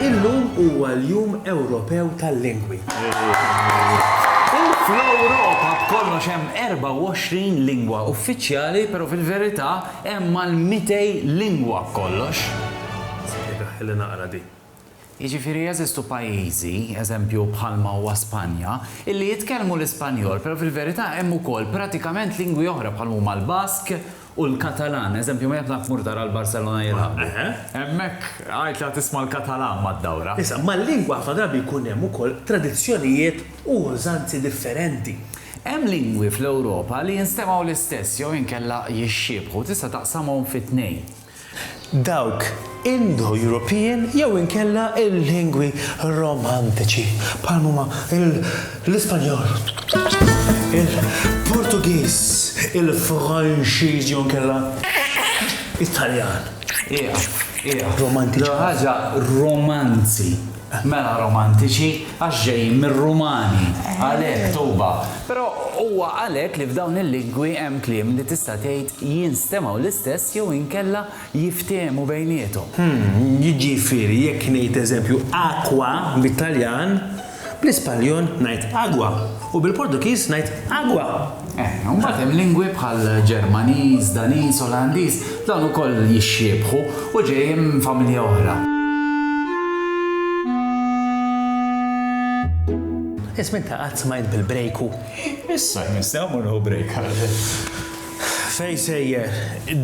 Illum huwa l-Jum Ewropew tal-Lingwi. Fl-Ewropa b'kollox hemm 24 lingwa uffiċjali, però fil-verità hemm mal-200 lingwa b'kollox. Ħilli naqra din. Jiġifieri jeżistu pajjiżi, eżempju bħalma huwa Spanja, illi jitkellmu l-Ispanjol, però fil-verità hemm ukoll pratikament lingwi oħra bħal huma l-Bask u l-Katalan, eżempju minn hekk naf tmur tara l-Barcelona jilagħbu. Hemmhekk għid la tisma' l-Katalan mad-dawra. Issa, mal-lingwa ħafna drabi jkun hemm ukoll tradizzjonijiet u użanzi differenti. Hemm lingwi fl-Ewropa li jinstemgħu l-istess jew inkella jixxiebħu, tista' taqsamhom fi tnejn. dawk Indo-Ewropin jew inkella l-lingwi Romantiċi, bħal ma huma l-Ispanjol, il-Portugiż, il-Franċiż jew inkella it-Taljan. Qiegħ, qiegħ. Romantiċi. L-ewwel ħaġa, romanzi. Mela romantiċi għax ġejjin mir-Rumani, għalhekk togħba. Però huwa għalhekk li f'dawn il-lingwi hemm kliem li tista' tgħid jinstemgħu l-istess jew inkella jiftiehmu bejniethom. Jiġifieri jekk ngħid eżempju acqua bit-Taljan, bl-Ispanjol ngħid agua u bil-Portugiż ngħid agua. Eħe, u mbagħad hemm lingwi bħal Ġermaniż, Daniż, Olandiż, dawn ukoll jixxiebħu u ġejjin minn familja oħra. Ismi ta' qatt smajt bil-brejku? Issa jmiss hawn morru brejk għal. Fej sejjer,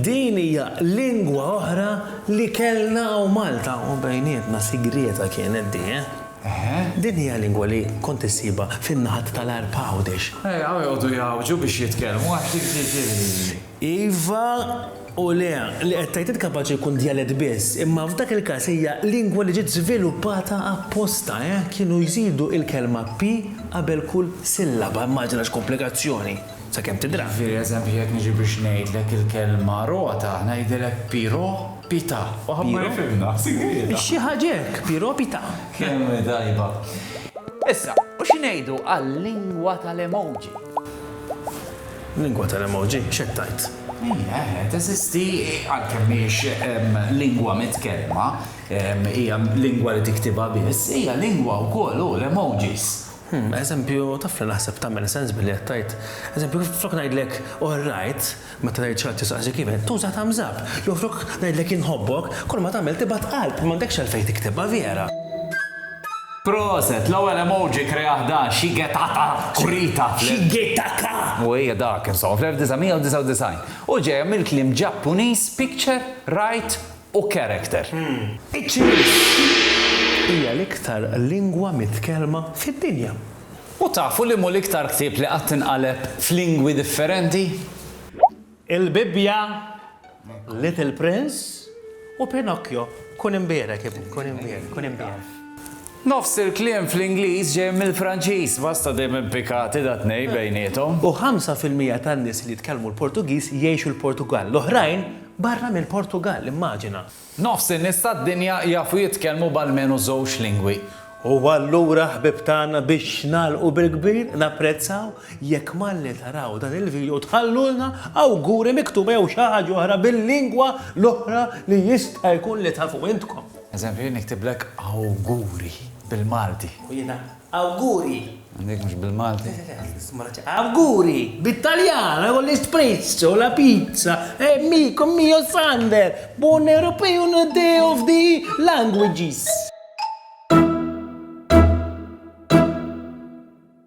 din hija lingwa oħra li kellna hawn Malta u bejnietna sigrieta kienet di, eh? Eħe. Din hija lingwa li kont issibha fin-naħat tal-Għarb Għawdex. Eja u joqogħdu jgħawġu biex jitkellmu għax dik ġieli. Iva u le, li qed tgħid int kapaċi jkun djalett biss, imma f'dak il-każ hija lingwa li ġiet żviluppata apposta, eh, kienu jżidu il-kelma pi qabel kull sillaba, immaġina x'komplikazzjoni. sakemm tidra. Jiġifieri eżempju jekk niġi biex ngħidlek il-kelma rota, ngħidilek Piro Pita. Waħad ma jifhimna, sigrieta. Xi ħaġa hekk, Piro Pita. Kemm hi tajba. Issa, u xi ngħidu għal-lingwa tal-emoji? Lingwa tal-emoji? X'qed tgħid? Hija, eħe, teżisti, għalkemm mhijiex lingwa mitkellma, hija lingwa li tiktibha biss, hija lingwa wkoll, hu, l-emojis. Hm, eżempju, taf li naħseb tagħmel sens billi qed tgħid, eżempju, flok ngħidlek all right, meta tgħid xi ħadd jistaqsik even, tuża thumbs up, jew flok ngħidlek inħobbok, kulma tagħmel tibgħat qalb, m'għandekx għalfejn tiktibha vera. Proset! L-ewwel emoji krea ħdan Shigetaka Kurita fl-. Shigetaka! U hija dak, insomma, fl-1999. U ġejja mill-kliem Ġappuniż picture, write, u character. Iċ-Ċiniż hija l-iktar lingwa mitkellma fid-dinja. U tafu liem'hu l-iktar ktieb li qatt inqaleb f'lingwi differenti? Il-Bibbja, Little Prince u Pinocchio. Kun imbierek, ibni, kun imbierek, kun imbierek. Nofs il-kliem fl-Ingliż ġej mill-Franċiż, basta dejjem impikati dat-tnejn bejniethom. U ħamsa fil-mija tan-nies li jitkellmu l-Portugiż jgħixu l-Portugall, l-oħrajn Barra mill-Portugall, immaġina! Nofs in-nies tad-dinja jafu jitkellmu b'almenu żewġ lingwi. Huwa allura ħbieb tagħna biex nagħlqu bil-kbir, napprezzaw jekk malli taraw dan il-video tħallulna awguri miktuba jew xi ħaġa oħra bil-lingwa l-oħra li jista' jkun li tafu intkom. Eżempju, jien niktiblek awguri bil-Malti. U jiena Awguri! Dik mhux bil-Malti? Awguri! Bit-Taljan, u l-Espresso, la Pizza, e Miko mio Sander, Buon European Day of the Languages!